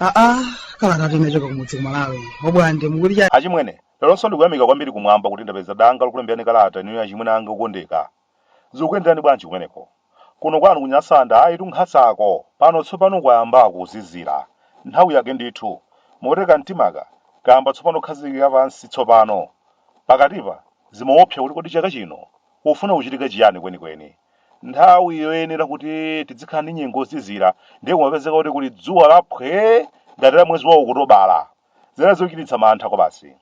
aa kalata tinachoka kumudzi kumalawi obwande mukuti cha achimwene leronso ndikuyamika kwambiri kumwamba kuti ndapeza danga lokulemberani kalata inu achimwene anga okondeka Zikukuyenderani bwanji kumeneko? Kuno kwanu ku Nyasanda ayitu nkhasako. Pano tsopano kwayamba kuzizira. Nthawi yake ndithu. Moti kamtimaka kayamba tsopano kukhazikika pansi tsopano. Pakatipa, zimaopsa kuti kodi chaka chino kufuna kuchitika chiyani kwenikweni. Nthawi yoyenera kuti tidzikhala ndi nyengo yozizira ndiye kumapezeka kuti kuli dzuwa la phwee ngati la mwezi wa Okutobala. Zinali zochititsa mantha kwabasi.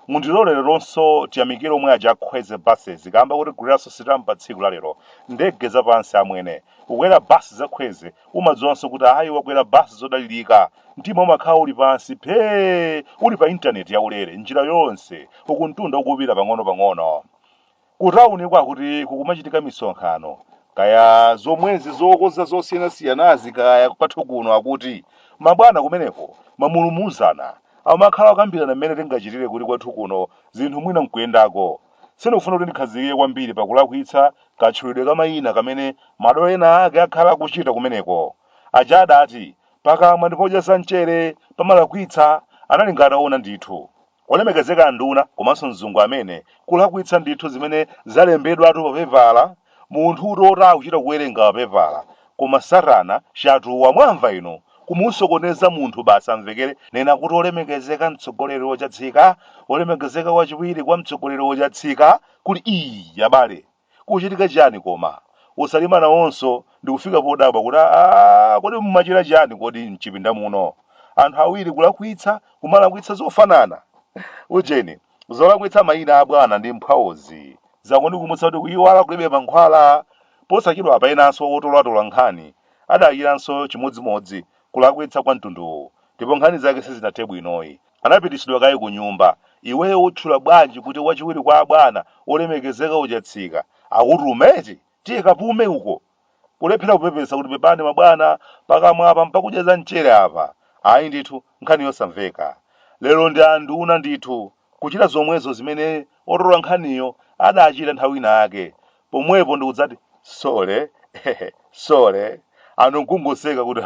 Mundilore leronso tiyamikire omwe aja a kwezy buses kaamba kotiguliranso sitampa tsiku la lero ndege za pansi amwene kukwera bus za kwezy umadziwanso kuti ayi wakwera bus zodalilika mtima umakhala uli pansi phee uli pa internet ya ulere njira yonse uku mtunda ukupita pang'ono pang'ono Ku tauniku akuti kukumachitika misonkhano kaya zomwezi zokoza zosiyanasiyanazi kaya kwathu kuno akuti mabwana kumeneko mamulumuzana amakhala akukambirana mmene tingachitire kuti kwathu kuno zinthu mwina nkuyendako. Sindikufuna kuti ndikhazikike kwambiri pa kulakwitsa katchulidwe ka mayina kamene madolo ena ake akhala akuchita kumeneko. Aja adati, pakamwa ndi podya za mchere pamalakwitsa, analinga ataona ndithu. Olemekezeka anduna komanso mzungu amene kulakwitsa ndithu zimene zalembedwatu pa pepala munthutu oti akuchita kuwerenga pa pepala koma satana shatuwa mwamva inu kumusokoneza munthu basi amvekere nena kuti olemekezeka mtsogoleri ochatsika olemekezeka wachiwiri kwa mtsogoleri ochatsika kuli ii abale Kukuchitika chiyani koma? O Salima nawonso ndi kufika podabwa kuti, Aaa, kodi mumachita chiyani kodi m'chipinda muno? Anthu awiri kulakwitsa, kumalakwitsa zofanana! Ujeni, zolakwitsa mayina a bwana ndi mphwaozi zangondikumutsa kuti kuyiwala kulibe mankhwala. Posachedwapa enanso otolatola nkhani adachitanso chimodzimodzi kulakwitsa kwa mtunduwu ndipo nkhani zake sizinathe bwinoyi. anapititsidwa kaye kunyumba. Iweyo utchula bwanji kuti wachiwiri kwa abwana olemekezeka o Chatsika akutuma eti? Tiye kapume uko. Kulephera kupepesa kuti pepani mabwana, pakamwa apa mpakudya za mchere apa. Ayi ndithu, nkhani yosamveka. Lero ndi a nduna ndithu, kuchita zomwezo zimene otola nkhaniyo adachita nthawi ina yake, pomwepo ndikudzati sole sole anthu nkungoseka kuti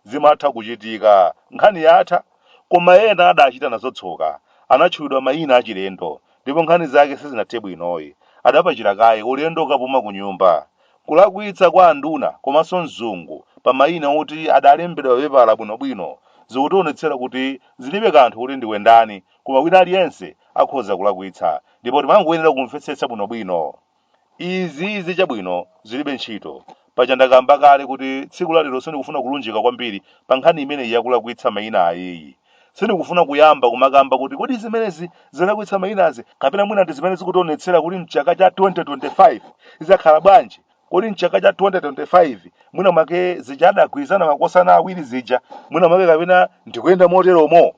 zimatha kuchitika nkhani yatha koma ena adachita nazo tsoka anatchulidwa mayina achilendo ndipo nkhani zake sizinathe bwinoyi adapachira kaye ulendo wokapuma ku nyumba kulakwitsa kwa anduna komanso mzungu pa mayina oti adalembedwa papepala bwinobwino zikutionetsera kuti zilibe kanthu kuti ndiwe ndani Koma wina aliyense akhoza kulakwitsa, ndipo timangoyenera kumvetsetsa bwinobwino. Izi, izi, chabwino, ziribe ntchito. Paja ndakamba kale kuti tsiku la lero sindikufuna kulunjika kwambiri pa nkhani imeneyi ya kulakwitsa maina ayiyi. Sindikufuna kuyamba kumakamba kuti kodi zimenezi zolakwitsa mainazi kapena mwina ndi zimene zikutionetsera kuti mchaka cha 2025 zidzakhala bwanji kodi mchaka cha 2025 mwina mwake zija adagwirizana makosana awiri zija mwina mwake kapena ndikuyenda moteromo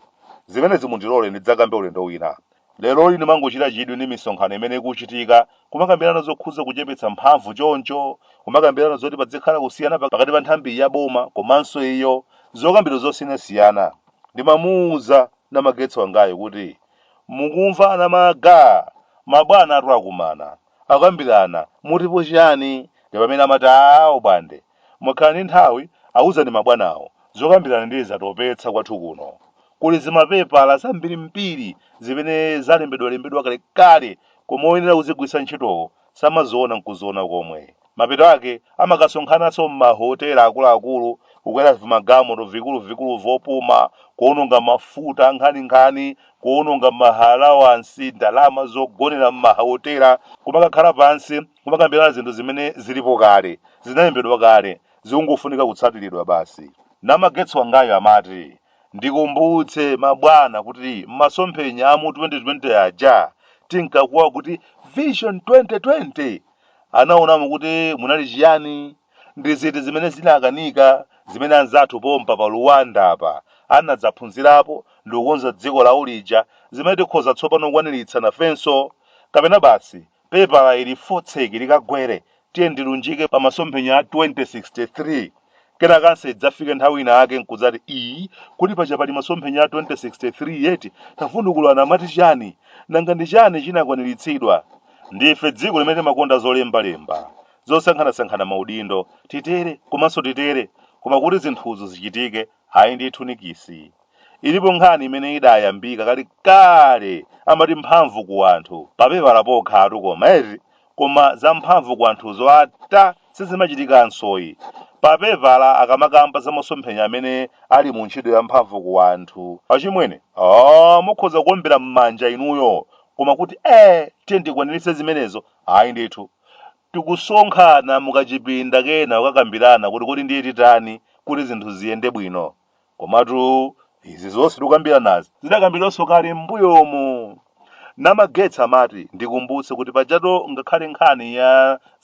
zimenezi mundilole ndidzakambe ulendo wina lero ine ndimangochita chidwi ndi misonkhano imene ikuchitika kumakambirana zokhudza kuchepetsa mphamvu choncho kumakambirana zoti padzikhala kusiyana pa- pakati pa nthambi ya boma komanso iyo zokambirana zosiyanasiyana ndimamuwuza namagetsi wangayu kuti mukumva anamage mabwanatu akumana Akukambirana, mutipo chiyani? Ndi pamene amati aah abwande, mukakhala ndi nthawi awuzani mabwanawo zokambirana ndiye zatopetsa kwathu kuno. Kuli zimapepala zambirimbiri zimene zalembedwalembedwa kalekale koma oyenera kuzigwiritsa ntchitowo samaziona n'kuziona komwe. Mapeto ake, amakasonkhananso m'mahotela akuluakulu, kukwera vimagalimoto vikuluvikulu vopuma, kuwononga mafuta ankhaninkhani, kuwononga maalawansi, ndalama zogonera m'mahotela, kumakakhala pansi, kumakambirana zinthu zimene zilipo kale, zinalembedwa kale, zikungofunika kutsatiridwa basi. Namagetsi wangayu amati, Ndikumbutsire mabwana kuti m'masomphenya a mu 2020 aja, tinkakuwa kuti Vision 2020! Anaonamo kuti munali chiyani? Ndi ziti zimene zinakanika zimene anzathu pompa pa Rwanda apa anadzaphunzirapo ndi kukonza dziko lawo lija zimene tikhoza tsopano kukwaniritsa nafenso? Kapena basi pepala ili fotseki likagwere tiyeni tilunjike pa masomphenya a 2063? Kenakonso idzafike nthawi ina yake nkudzati, ii, kodi paja pali masomphenya a 2063 eti? Tavundukulani amati chani? Nanga ndi chani chinakwaniritsidwa? Ndife dziko limene timakonda zolemba lemba, zosankhanasankhana maudindo, titere, komanso titere, koma kuti zinthuzo zichitike, ayi ndithu nikisi. Ilipo nkhani imene idayambika kale kale amati mphamvu ku anthu, papepala pokhatu koma eti, koma zamphamvu ku anthuzo ata sizimachitikansoyi. Papepala akamakamba za masomphenya amene ali mu ntchito yamphamvu ku anthu. Achimwene, ah, mukhoza kuombera m'manja inuyo, koma kuti eh, tiye tikwaniritse zimenezo, ayi ndithu. Tikusonkhana mukachipinda kena kukakambirana kuti kodi ndiye titani kuti zinthu ziyende bwino. Komatu izi zonse tikukambiranazi zidakambidwanso kale m'mbuyomu. Namagetsi amati ndikumbutse kuti pajatu ngakhale nkhani ya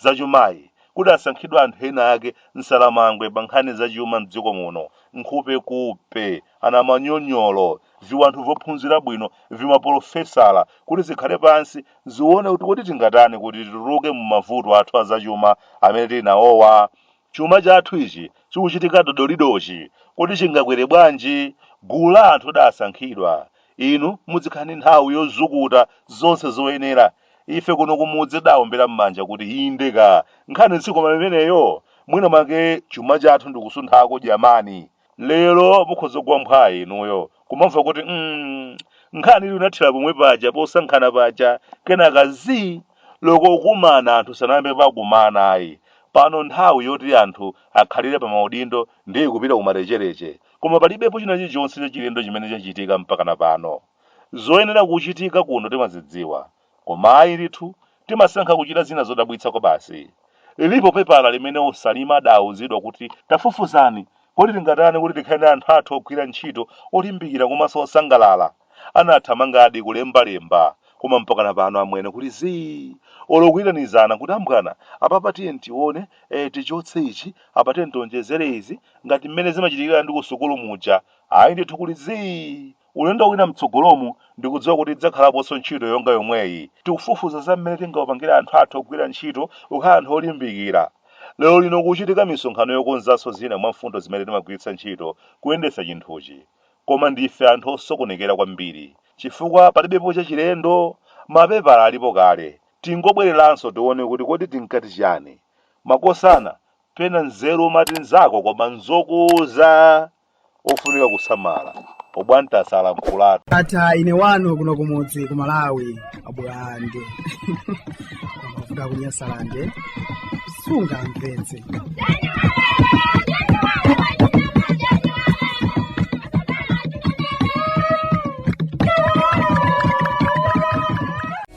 zachumayi kudasankhidwa anthu ena ake nsangalabwi pa nkhani za chuma m'dziko muno, nkhupekupe, anamanyonyolo, viwanthu vophunzira bwino, vimapolofesala kuti zikhale pansi zione kuti kodi tingatani kuti tituluke mu mavuto athu a zachuma amene tili nawowa? Chuma chathu ichi chikuchitika dodolidochi, kodi chingakwere bwanji? Gulu la anthu lidaasankhidwa. Inu mudzikhala ndi nthawi yozukuta zonse zoyenera. Ife kuno kumudzi tidaombera m'manja kuti inde ka! Nkhani si koma imeneyo? Mwina mwake chuma chathu ndi kusunthako dyamani! Lero mukhoza kugwa mphwayi inuyo kumamva kuti mm, nkhani ija inathera pomwe paja posankhana paja kenaka zii olo kukumana anthu sanayambe pakumana ayi pano nthawi yoti anthu akhalire pa maudindo ndiye ikupita kumarechereche koma palibepo china chilichonse chachilendo chimene chachitika mpakana pano zoyenera kuchitika kuno timazidziwa Koma ayi ndithu, timasankha kuchita zina zodabwitsa kwabasi. Lilipo pepala limene a Chilima adaawuzidwa kuti, Tafufuzani, kodi tingatani kuti tikhale ndi anthu athu ogwira ntchito olimbikira komanso osangalala? Anathamangadi kulemba lemba, koma mpakana pano amwene kuli zii! Olo kuitanizana kuti achimwene, apapa tiyeni tione, ee tichotse ichi, apa tiyeni tionjezere izi, ngati mmene zimachitikira ndi kusukulu muja, ayi ndithu kuli zii! Ulendo wina m'tsogolomu, ndikudziwa kuti tidzakhalaponso ntchito yonga yomweyi. Tikufufuza za mmene tingawapangire anthu athu ogwira ntchito kukhala anthu olimbikira. Lerolino kukuchitika misonkhano yokonzanso zina mwa mfundo zimene timagwiritsa ntchito kuyendetsa chinthuchi. Koma ndife anthu osokonekera kwambiri. Chifukwa palibepo chachilendo. Mapepala alipo kale. Tingobwereranso tione kuti kodi tinkati chiyani. Makosana, pena nzeru umati nzako poti n'zokuuza! ofunika kusamala obwantasa alankhulatu. ata ine wanu kuno kumudzi ku malawi abwande kuda kunyasalande sungamvetse